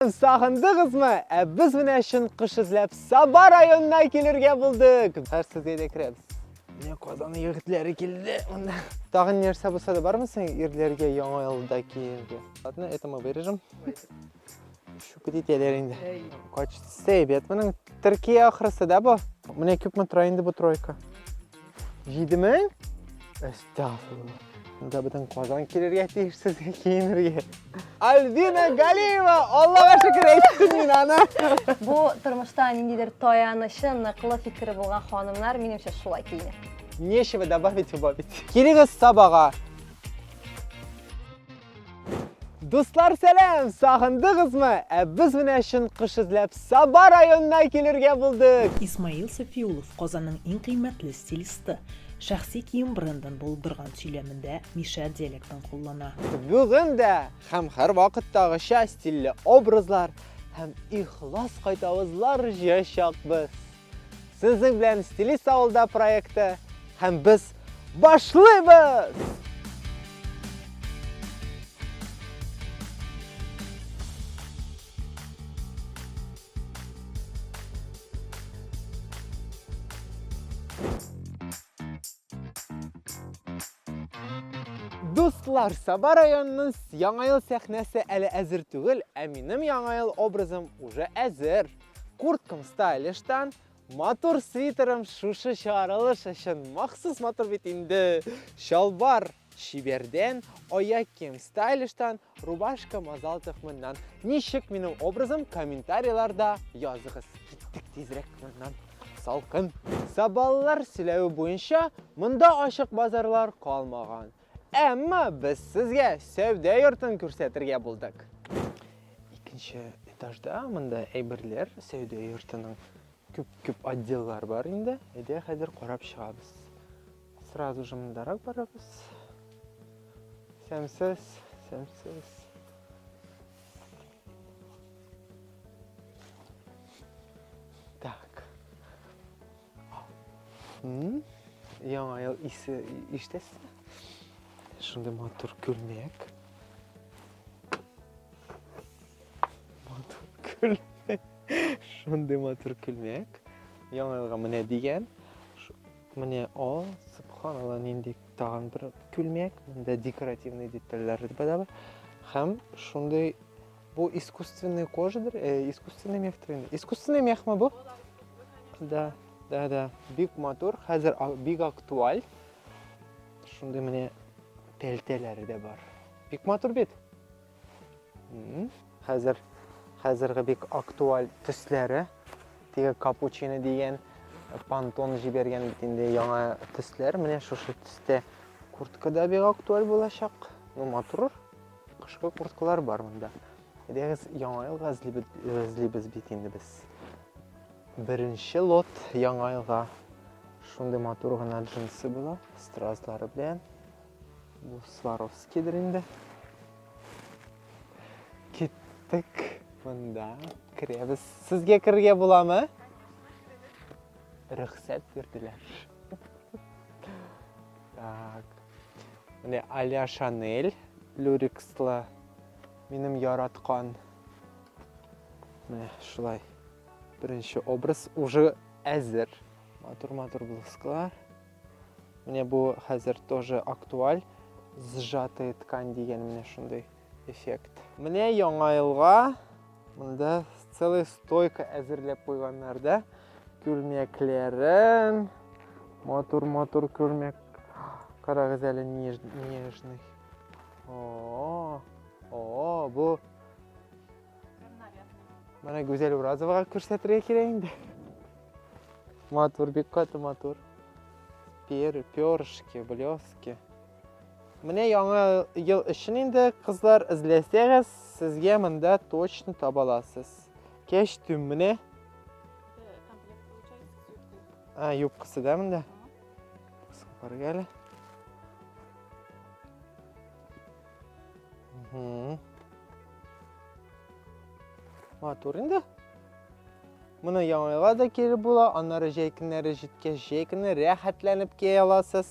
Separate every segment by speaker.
Speaker 1: Сагындыгызмы? Ә без менә чын кыш эзләп Саба районына килергә булдык. Хәзер сезгә дә керәбез. Менә Казан егетләре килде. Монда тагын нәрсә булса да бармы син ирләргә яңа елда киергә? Ладно, это мы вырежем. Шүкет итәләр инде. Качты сәйбәт моның. Төркия ахрысы да бу. Менә күпме тора инде бу тройка. Җиде мең? Әстәгфирулла. Монда бөтен Казан килергә тиеш сезгә киенергә. Альбина Галиева, Аллага шөкер әйттем мин аны. Бу
Speaker 2: тормышта ниндидер таянычы, ныклы фикере булган ханымнар, минемчә, шулай киенә. Нечего добавить,
Speaker 1: убавить. Килегез Сабага. Дуслар, сәлам! Сагындыгызмы? Ә без менә чын кыш эзләп Саба районына килергә булдык. Исмаил Сафиулов
Speaker 3: Казанның иң кыйммәтле стилисты. Шәхси кием брендын булдырган сөйләмендә Миша диалектын куллана. Бүген дә
Speaker 1: һәм һәрвакыттагыча стильле образлар һәм ихлас кайтавызлар җыячакбыз. Сезнең белән Стилист авылда проекты һәм без башлыйбыз! Дуслар, Саба районының яңа ел сәхнәсе әле әзер түгел, ә минем яңа ел образым уже әзер. Курткам стайлиштан, матур свитерым шушы чыгарылыш өчен махсус матур бит инде. Чалбар чибәрдән, аяк кием стайлиштан, рубашка мазал төхминнән. Ничек минем образым комментарийларда языгыз. Киттек тизрәк моннан. Салкын. Сабаллар сөйләве буенча, монда ачык базарлар калмаган. Әмма без сезгә сәүдә йортын күрсәтергә булдык. Икенче этажда монда әйберләр сәүдә йортының күп-күп отделлар бар инде. Әйдә хәзер карап чыгабыз. Сразу же мондарак барабыз. Сәмсез, сәмсез. Яңа ел исе иштәсе. Шундый матур күлмәк. Матур күлмәк. Шундый матур күлмәк. Яңа елга менә дигән. Менә о, субханалла, нинди тагын бер күлмәк. Монда декоративный детальләр бар. Һәм шундый Бу искусственный кожадыр, э, искусственный мехтер инде. Искусственный мехме бу? Да, да, да. Бик матур, хәзер бик актуаль. Шундый менә пәлтәләре дә бар. Бик матур бит. Хәзер хәзерге бик актуаль төсләре. Теге капучино дигән пантон җибәргән бит инде яңа төсләр. Менә шушы төстә куртка да бик актуаль булачак. Ну, матур. Кышкы курткалар бар монда. Әйдәгез, яңа елга эзлибез бит инде без. Беренче лот яңа елга шундый матур гына джинсы була, стразлары белән. Бу Сваровскийдер инде. Киттек монда. Керәбез. Сезгә керергә буламы? Рөхсәт бирделәр. Так. Менә Аля Шанель люрикслы минем яраткан. Менә шулай. Беренче образ уже әзер. Матур-матур блузкалар. Менә бу хәзер тоже актуаль. Сжатая ткань дигән менә шундый. эффект. Менә яңа елга монда целый стойка әзерләп куйганнар да. Күлмәкләрен, матур-матур күлмәк. Карагыз әле нежный. О, о, бу Менә Гүзәл Уразовага күрсәтергә кирәк инде. Матур, бик каты матур. Пер, перышки, блески. Менә яңа ел өчен инде, кызлар, эзләсәгез, сезгә монда точно таба аласыз. Кәчтүм менә. А, юбкасы да монда. Супарга әле. Матур инде. Моны яңайга да кире була, аннары җәй көннәре җиткәч, җәй көне рәхәтләнеп кия аласыз.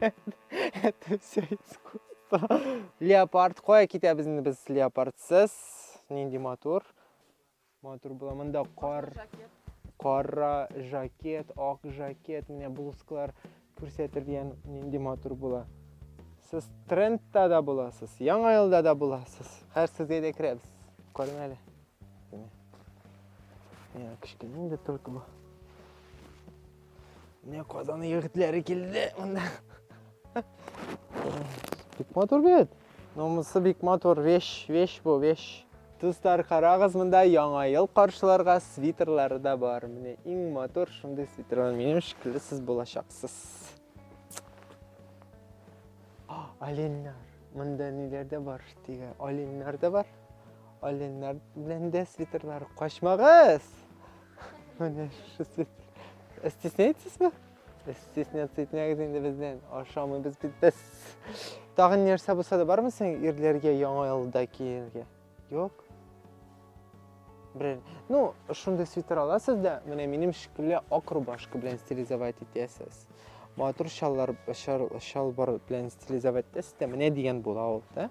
Speaker 1: Это все искусство. Леопард. Кая китәбез инде без леопардсыз? Нинди матур. Матур була. Монда кар. Кара жакет, ак жакет, менә блузкалар күрсәтер дигән нинди матур була. Сез трендта да буласыз, яңа елда да буласыз. Хәзер сезгә дә керәбез. Карагыз әле. Менә кечкенә инде только бу. Менә Казан егетләре килде монда. Бик матур бит. Номысы бик матур, вещь, вещь бу, вещь. Дуслар, карагыз, монда яңа ел каршыларга свитерлары да бар. Менә иң матур шундый свитерлар минем шикелле сез булачаксыз. Оленнар. Монда ниләр дә бар? Диге оленнар да бар. Оленнар белән дә свитерлар качмагыз! Менә шушы свитер. Ә стесняетсезме? Ә стесняться итмәгез инде бездән. Ашамыйбыз бит без. Тагын нәрсә булса да бармы син ирләргә яңа елда киергә? Юк. Бер, ну, шундый свитер аласыз да, менә минем шикелле ак рубашка белән стилизовать итәсез. Матур шаллар, шалбар белән стилизовать итәсез дә, менә дигән була ул, да?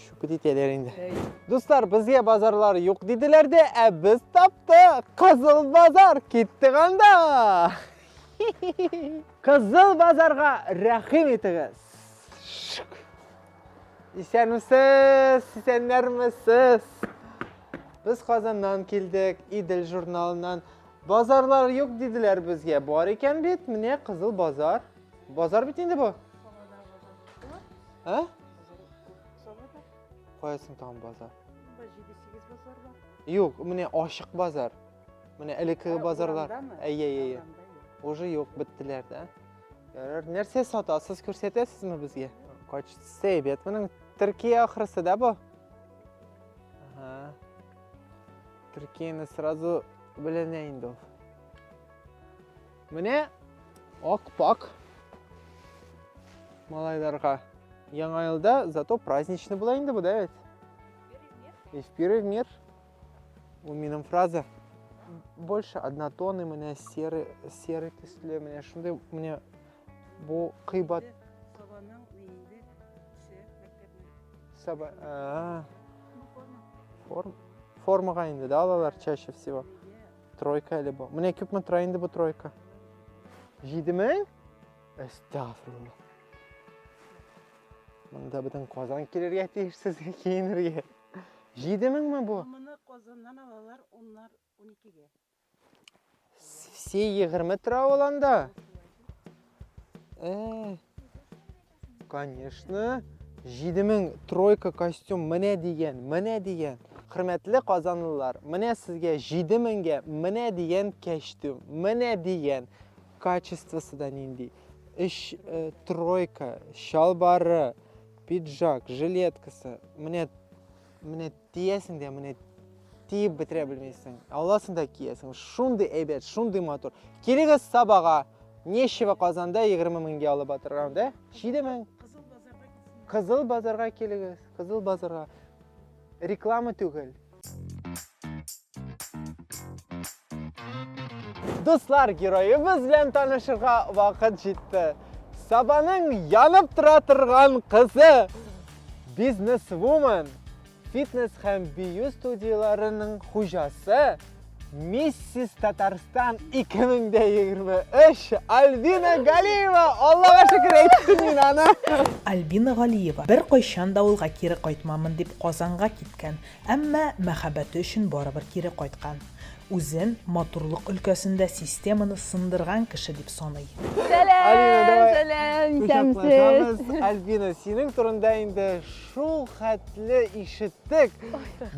Speaker 1: Шүкет итәләр инде. Дуслар, безгә базарлар юк диделәр дә, ә без таптык. Кызыл базар киттек анда. Кызыл базарга рәхим итегез. Исәнмесез, исәннәрмесез. Без Казаннан килдек, Идел журналыннан. Базарлар юк диделәр безгә. Бар икән бит, менә Кызыл базар. Базар бит инде бу. Ә? Каясын тагын базар? Бу 7-8 базар бар. Юк, менә ашык базар. Менә элекке базарлар. Әйе, әйе. Уже юк, биттеләр да. Ярар, нәрсә сатасыз, күрсәтәсезме безгә? Кач сәйбәт моның Төркия ахрысы да бу? Ага. Төркияне сразу беләнә инде ул. Менә ак-пак малайларга. Яңа елда зато праздничный була инде бу, да бит? Из пиры в мир. Ул минем фраза. Больше однотонный менә серый, серый төсле менә шундый менә бу кыйбат. Сабаның
Speaker 4: өйендә төшә мәктәпне. Саба, а.
Speaker 1: Форма. Формага инде, да, алалар чаще всего. Тройка әле бу. Менә күпме тора инде бу тройка? 7000? Әстәгфирулла. Монда бөтен Казан килергә тиеш сезгә киенергә. 7000 ме бу? Моны Казаннан
Speaker 4: алалар, оннар
Speaker 1: 12-гә. Се 20 тора ул анда. Э. Конечно. 7000 тройка костюм менә дигән, менә дигән. Хөрмәтле казанлылар, менә сезгә 7000гә менә дигән костюм, менә дигән. Качествосы да нинди. Эш э, тройка, чалбары, пиджак, жилеткасы. Менә Менә тиясең дә, менә тиеп бетерә белмисең. Аласың да киясең. Шундый әйбәт, шундый матур. Килегез Сабага. Нечево Казанда 20 меңгә алып атырган, да? 7 мең. Кызыл базарга килегез. Кызыл базарга. Реклама түгел. Дуслар, героебыз белән танышырга вакыт җитте. Сабаның янып тора торган кызы, бизнесвумен, фитнес һәм бию студияләренең хуҗасы, Миссис Татарстан 2023 Альбина Галиева! Аллага шөкер әйттем мин аны! Альбина
Speaker 3: Галиева бер кайчан да авылга кире кайтмамын дип Казанга киткән. Әмма мәхәббәте өчен барыбер кире кайткан. Үзен матурлык өлкәсендә системаны сындырган кеше дип саный. Сәлам, сәлам,
Speaker 2: исәнмесез. Альбина, синең
Speaker 1: турында инде шул хәтле ишеттек.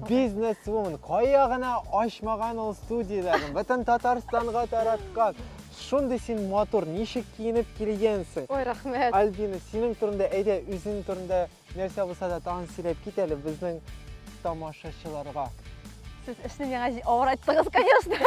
Speaker 1: Бизнесвумен, кая гына ачмаган ул студияләрен, бөтен Татарстанга тараткан. Шундый син матур, ничек киенеп килгәнсең? Ой, рәхмәт.
Speaker 2: Альбина, синең турында,
Speaker 1: әйдә, үзең турында Нәрсә булса да тагын сөйләп кит әле безнең тамашачыларга. Сез
Speaker 2: эшне миңа авыр айттыгыз, конечно.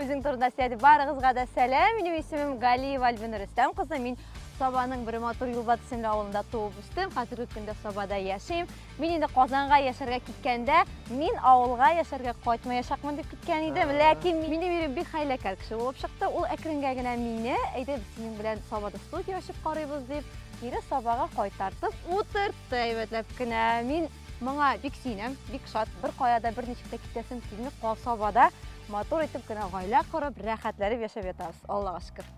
Speaker 2: Үзең турында сөйләде. Барыгызга да сәлам. Минем исемем Галиева Альбина Рөстәм кызы. Мин Сабаның бер матур Юлбат исемле авылында туып үстем. Хәзерге көндә Сабада яшим. Мин инде Казанга яшәргә киткәндә, мин авылга яшәргә кайтмаячакмын дип киткән идем. Ләкин минем ирем бик хәйләкәр кеше булып чыкты. Ул әкренгә генә мине, әйдә без синең белән Сабада студия ачып карыйбыз дип, кире сабага кайтартып утыртты әйбәтләп кенә. Мин моңа бик сөенәм, бик шат. Бер кая да бер ничек тә китәсем килми. Касабада матур итеп кенә гаилә корып, рәхәтләнеп яшәп ятабыз. Аллага шөкер.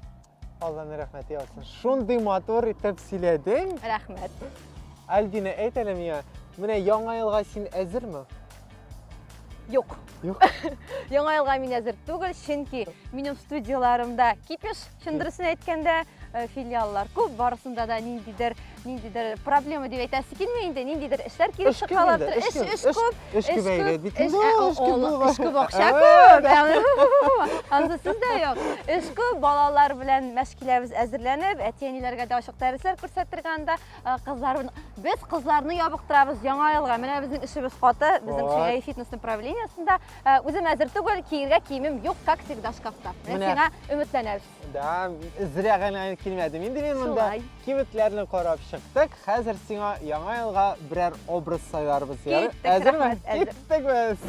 Speaker 2: Алланы
Speaker 1: рәхмәт яусын. Шундый матур итеп сөйләдең. Рәхмәт.
Speaker 2: Альбина,
Speaker 1: әйт әле миңа, менә яңа елга син әзерме?
Speaker 2: Юк. Юк.
Speaker 1: Яңа елга
Speaker 2: мин әзер түгел, чөнки минем студияләремдә кипеш, чын дөресен әйткәндә, э, филиаллар күп, барысында да ниндидер, ниндидер проблема дип әйтәсе килми инде, ниндидер эшләр килеп чыгалар. Эш, эш, эш күп. Эш күп әйдә, бит.
Speaker 1: Эш күп.
Speaker 2: Эш күп, акча күп. Ансы сез дә юк. Эш күп, балалар белән мәшкиләбез әзерләнеп, әти-әниләргә дә ачык дәресләр күрсәтергә анда. Э, кызлар без кызларны ябыктырабыз яңа елга менә безнең эшебез каты безнең шулай фитнес направлениесында э, үзем әзер түгел киергә киемем юк как всегда шкафта менә сиңа өметләнәбез да
Speaker 1: зря гына килмәдем инде мин монда кибетләрне карап чыктык хәзер сиңа яңа елга берәр образ сайларбыз әзерме киттек без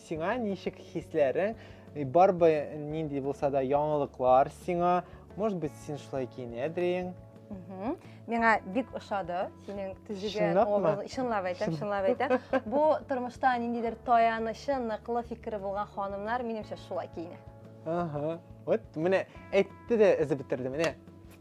Speaker 1: Сиңа ничек хисләрең? Барбы нинди булса да яңалыклар сиңа? Может быть, син шулай киенәдең?
Speaker 2: Миңа бик ошады синең төзегән образ. Чынлап әйтәм, чынлап әйтәм. Бу тормышта ниндидер таянычы, ныклы фикере булган ханымнар, минемчә, шулай киенә. Ага.
Speaker 1: Вот менә әйтте дә эзеп бетерде, менә.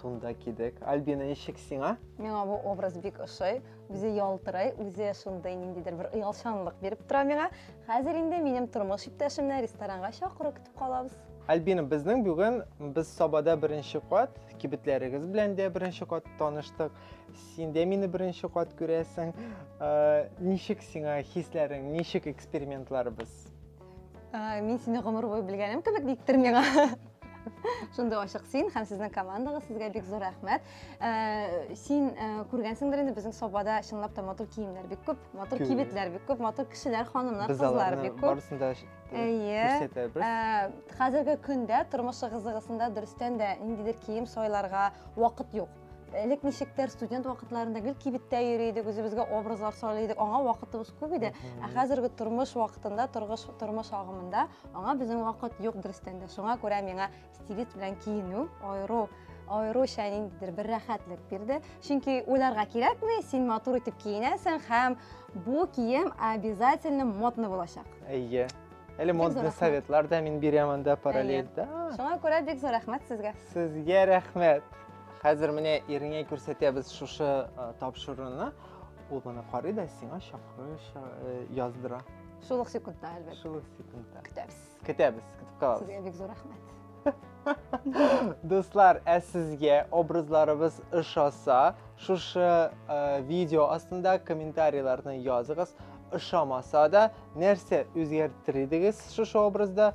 Speaker 1: Тунда кидек. Альбина, ничек сиңа? Миңа бу образ
Speaker 2: бик ошый. Үзе ялтырай, үзе шундый ниндидер бер оялчанлык биреп тора миңа. Хәзер инде минем тормыш иптәшемне ресторанга чакырып көтеп калабыз. Альбина, безнең
Speaker 1: бүген без Сабада беренче кат, кибетләрегез белән дә беренче кат таныштык. Син дә мине беренче кат күрәсең. Э, ничек сиңа хисләрең, ничек экспериментларыбыз? Э,
Speaker 2: мин сине гомер буе белгәнем кебек диктер миңа. шундый ачык син һәм сезнең командагыз сезгә бик зур рәхмәт э, син э, күргәнсеңдер инде безнең собада чынлап та матур киемнәр бик күп матур кибетләр бик күп матур кешеләр ханымнар кызлар бик күп барысын да күрсәтәбез
Speaker 1: э, хәзерге
Speaker 2: көндә тормыш ыгы-зыгысында дөрестән дә ниндидер кием сайларга вакыт юк элек ничектер студент вакытларында гел кибеттә йөри идек үзебезгә образлар сайлый идек аңа вакытыбыз күп иде ә хәзерге тормыш вакытында торгыш тормыш агымында аңа безнең вакыт юк дөрестән дә шуңа күрә миңа стилист белән киенү аеру аеруча ниндидер бер рәхәтлек бирде чөнки уйларга кирәкми син матур итеп киенәсең һәм бу кием обязательно модный булачак әйе әле
Speaker 1: модный советлар да мин
Speaker 2: бирәм
Speaker 1: анда параллельда шуңа күрә бик
Speaker 2: зур рәхмәт сезгә сезгә рәхмәт
Speaker 1: Хәзер менә иреңә күрсәтәбез шушы э, тапшыруны. Ул моны карый да сиңа чакыру э, яздыра. Шул ук секундта,
Speaker 2: әлбәттә. Шул ук секундта. Көтәбез.
Speaker 1: Көтәбез,
Speaker 2: көтеп калабыз.
Speaker 1: Сезгә бик зур рәхмәт.
Speaker 2: Дуслар,
Speaker 1: ә сезгә образларыбыз ошаса, шушы э, видео астында комментарийларны языгыз. Ошамаса да, нәрсә үзгәртер идегез шушы образда?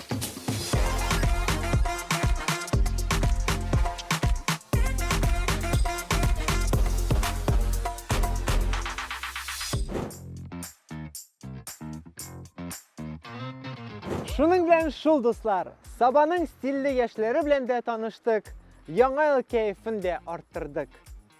Speaker 1: Шуның белән шул дуслар, Сабаның стильле яшьләре белән дә таныштык, яңа ел кәефен дә арттырдык.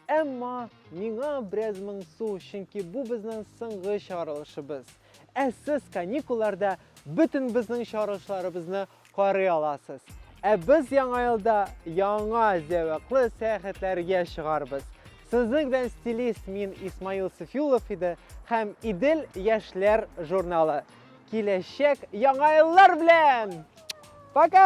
Speaker 1: Әмма миңа бераз моңсу, чөнки бу безнең соңгы чыгарылышыбыз. Ә сез каникулларда бөтен безнең чарышларыбызны карый аласыз. Ә без яңа елда яңа зәвыклы сәяхәтләргә чыгарбыз. Сезнең белән стилист мин Исмаил Сафиулов иде һәм Идел яшьләр журналы. Киләчәк яңа еллар белән! Пока!